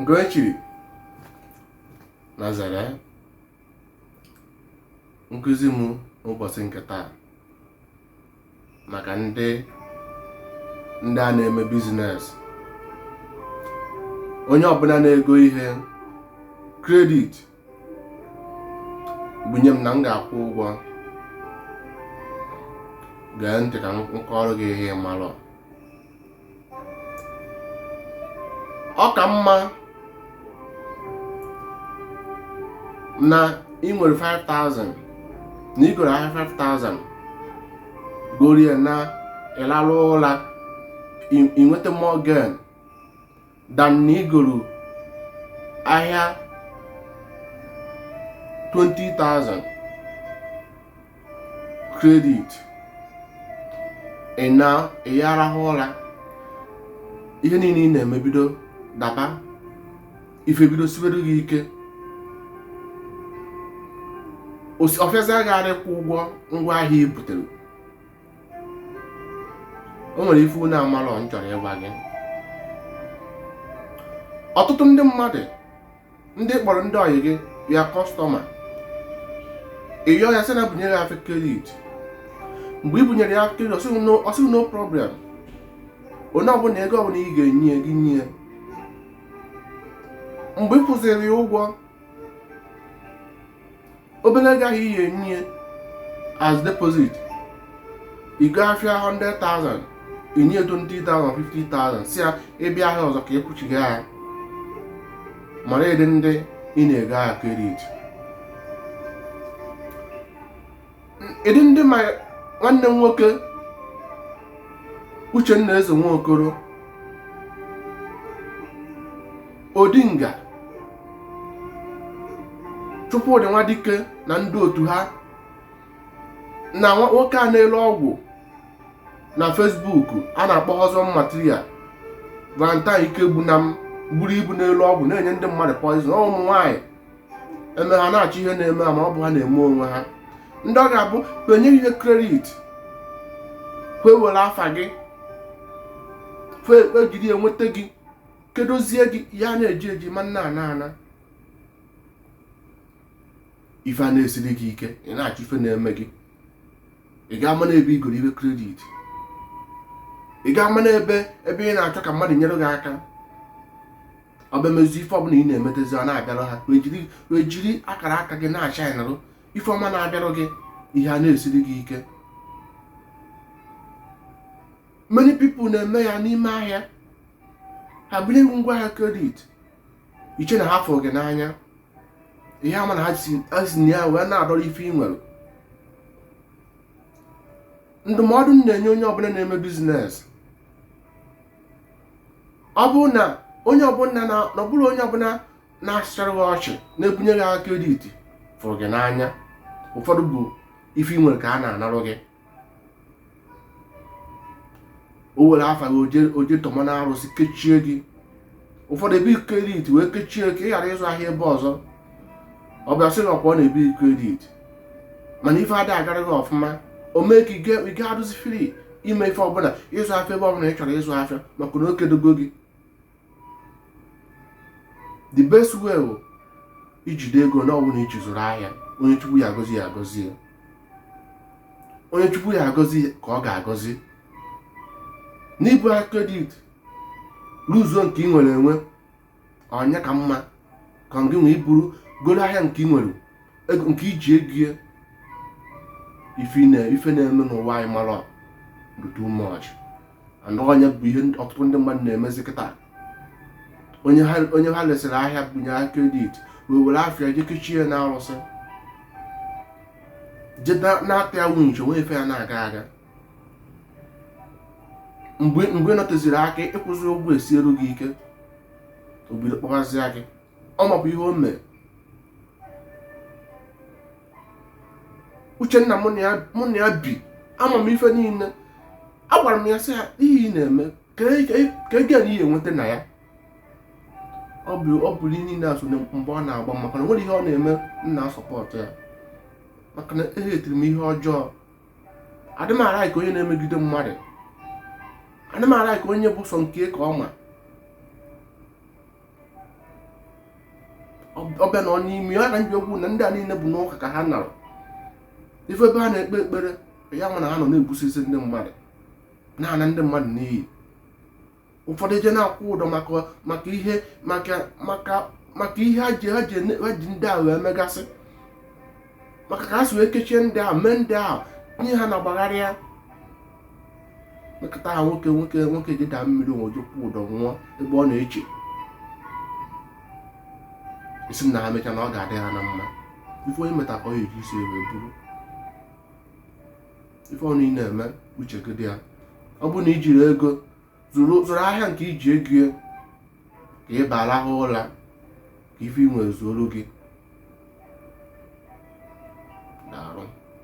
nke e chiri Nazaret nkụzi m n'ụbọchị nke taa maka ndị ndị a na-eme bizines onye ọbụla na-ego ihe kredit bunye m na m ga-akwụ ụgwọ gee ntị ka m kọọrọ gị ihe ị marọ ọ ka mma na ị nwere 5000 na ị goro ahịa 5000 gorie na ị lalụ ụla i nweta more gain than na ị goro ahịa 20,000 kredit ị na ị ya-arahụ ụra ihe niile ị na-eme bido daba ife bido sibere gị ike ọ fịazia gị arụ ịkwụ ụgwọ ngwa ahịa i butere o nwere ife unu amalọ m chọrọ ịgwa gị ọtụtụ ndị mmadụ ndị ị kpọrọ ndị ọyị gị ya kọstọma ị yọọ ya sị na bunyere ya afịa kredit mgbe ị bunyere ya afịa kredit ọ sị gị no problem onye ọbụla ego ọbụla ị ga-enye gị nye mgbe ị kwụziri ya ụgwọ obere ego ahụ ị ya-enye ya as deposit ị goo afịa 100,000 i nye ya 20 50,000 sị ya ị bịa ahịa ọzọ ka ị kwụchie ya mara ụdị ndị ị na-ego ahịa kredit ụdị ndị ma nwanne m nwoke Uchenna Eze Nwokoro Odinga Chukwudị Nwadike na ndị otu ha na nwoke a na-ele ọgwụ na Facebook a na-akpọ Husband Material Valentine Ikegbunam buru ibu na-ele ọgwụ na-enye ndị mmadụ poison ụmụ nwaanyị eme ha na-achọ ihe na-eme ha ma ọ bụ ha na-eme onwe ha ndị ọ ga-abụ e nye gị ihe kredit e were afa gị kwe ekpe e jiri enweta gị kedozie gị ya na-eji eji ma na-ana ana ife ana-esiri gị ike ị na-achọ ife na-eme gị ị ga-ama n'ebe ị goro ife kredit ị ga-ama n'ebe ebe ị na-achọ ka mmadụ nyere gị aka ọ bịa mezie ife ọbụla ị na-emetezi ọ na-abịara ha wee jiri akara aka gị na-shine anarụ ife ọma na-abịara gị ihe a na-esiri gị ike many people na-eme ya n'ime ahịa ha bunye gị ahịa kredit i chee na ha fụrụ gị n'anya ị ha ama na ha si na ya wee na-adọrọ ife ị nwere ndụmọdụ m na-enye onye ọbụla na-eme biznes ọ bụ na onye ọbụla na ọ bụrọ onye ọbụla na-asụchara gị ọchị na-ebunye gị ahịa kredit fụrụ gị n'anya ụfọdụ bụ ife i nwere ka ha na-anarụ gị o were afa gị o je tọma na arụsị kechie gị ụfọdụ ebi kredit wee kechie ka ị ghara ịzụ ahịa ebe ọzọ ọ bịa sị na ọkwa ọ na-ebi kredit mana ife ada agara gị ọfụma o mee ka ị ga adụzi fri ime ife ọbụla ịzụ afịa ebe ọbụla ị chọrọ ịzụ afịa maka na o kedogo gị the best way bụ ijide ego ọbụla i ji zụrụ ahịa onye chukwu ya agọzi ya agọzi ya onye chukwu ya agọzi ka ọ ga-agọzi n'ibu ahịa kredit ruzuo nke ị nwere enwe ọ nya ka mma ka gị wee buru goro ahịa nke ị nwere nke i ji ego ya ife na-eme n'ụwa anyị mara too much and ọ nya bụ ihe ọtụtụ ndị mmadụ na-emezi kịta onye ha lesịrị ahịa bunye ya kredit wee were afa ya je kechie na arụsị je na-ata ya winch o nwee ife ya na-aga aga mgbe ị nọteziri aka ịkwụzi ụgwọ esieru gị ike o bido kpọgazịa gị ọ mabụ ihe o mere uchenna mụ na ya bi ama m ife niile agwara m ya sị ya ihe ị na-eme ka gịnị ị ya enweta na ya ọ bụrụ ihe niile asụ mgbe ọ na-agba maka na o nwere ihe ọ na-eme m na-asọpọtụ ya maka na ehetiri m ihe ọjọọ adị m alaik onye na-emegide mmadụ adị m alaik onye bụ sọ nke ya ka ọ ma ọ bịa na ọ n'ime ya na njikwu na ndị a niile bụ n'ụka ka ha narụ ife ebe ha na-ekpe ekpere ya nwa na ha nọ na-egbusisi ndị mmadụ na-ana ndị mmadụ n'iyi ụfọdụ eje na-akwụ ụdọ maka ihe ha ji ndị ahụ emegasị maka ka ha si wee kechie ndị ahụ mee ndị ahụ anya na-agbagharị ya mekọta ha o nwee ike je daa mmiri o nwee ike je kwụ ụdọ nwụọ ebe ọ na-eche sị na ha mecha na ọ ga-adị ha na mma ife onye meta ka ọ ya eji isi ya buru ife ọbụna ị na-eme uche gị dị ya ọ bụ na i jiri ego zụrụ ahịa nke i ji ego ya ka ị na-arahụ ụla ka ife i nwere zuoro gị